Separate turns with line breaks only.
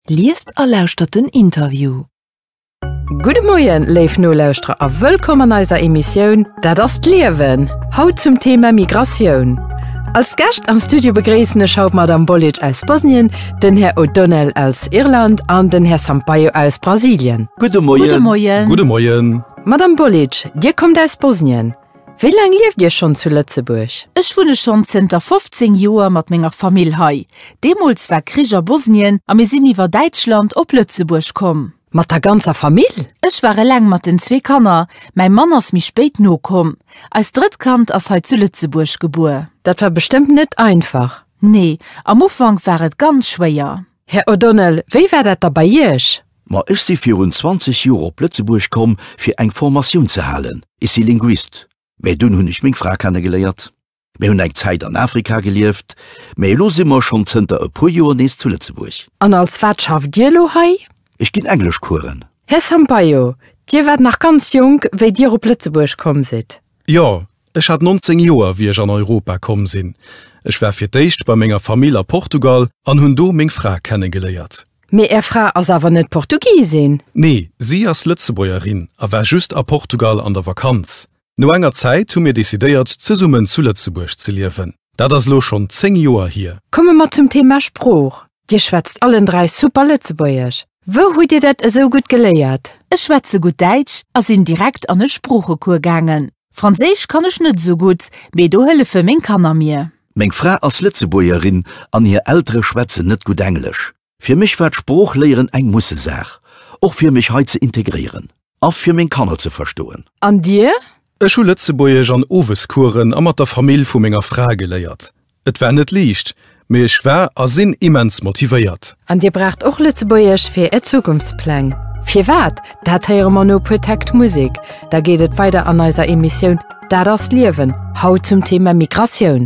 Liest a lauschtert den Interview. Gudde Moien, léif Nolauschterer a wëllkomm an eiser Emissioun Dat ass d'Liewen, haut zum Thema Migratioun. Als Gäscht am Studio begréissen ech haut d'Madame Bolic aus Bosnien, den Här O'Donnell aus Irland an den Här Sampaio aus Brasilien. Gudde Moien. Gudde Moien. Madame Bolic, Dir kommt aus Bosnien. Wéi laang lieft Dir schonn zu Lëtzebuerg? Ech wunne schonn zënter 15 Joer mat menger Famill hei. Deemools war Krich a Bosnien a mir sinn iwwer Däitschland op Lëtzebuerg komm. Mat der ganzer Famill? Ech war eleng mat den zwee Kanner, mäi Mann ass méi spéit nokomm. Eist drëtt Kand ass hei zu Lëtzebuerg gebuer. Dat war bestëmmt net einfach? Nee, am Ufank war et ganz schwéier. Här O'Donnell, wéi war dat da bei Iech? Ma ech si virun 20 Joer op Lëtzebuerg komm fir eng Formatioun ze halen. Ech si Linguist. Mä dunn hunn ech meng Fra kennegeléiert. Mir hunn eng Zäit an Afrika gelieft, mä elo si mer schonn zënter e puer Joer nees zu Lëtzebuerg. An als wat schafft Dir elo hei? Ech ginn Engleschcoursen. Här Sampaio, Dir waart nach ganz jonk, wéi Dir op Lëtzebuerg komm sidd. Jo, ech hat 19 Joer, wéi ech an Europa komm sinn. Ech war fir d'éischt bei menger Famill a Portugal an hunn do meng Fra kennegeléiert. Mee Är Fra ass awer net Portugisin? Nee, si ass Lëtzebuergerin a war just a Portugal an der Vakanz. No enger Zäit hu mir decidéiert, zesummen zu Lëtzebuerg ze liewen. Dat ass elo schonn 10 Joer hier. Komme mer zum Thema Sprooch. Dir schwätzt allen dräi super Lëtzebuergesch. Wou hutt Dir dat esou gutt geléiert? Ech schwätze gutt Däitsch a sinn direkt an e Sproochecours gaangen. Franséisch kann ech net esou gutt, mee do hëllefe meng Kanner mir. Meng Fra ass Lëtzebuergerin an hir Eltere schwätzen net gutt Englesch. Fir mech war d'Sproochléieren eng Mussesaach, och fir mech hei ze integréieren. A fir meng Kanner ze verstoen. An dir? Ech hu Lëtzebuergesch an Owescoursen a mat der Famill vu menger Fra geléiert. Et war net liicht, mee ech war a sinn immens motivéiert. An dir braucht och Lëtzebuergesch fir är Zukunftspläng? Firwat? Dat héiere mer no e puer Takt Musek. Da geet et weider an eiser Emissioun Dat ass d'Liewen, haut zum Thema Migratioun.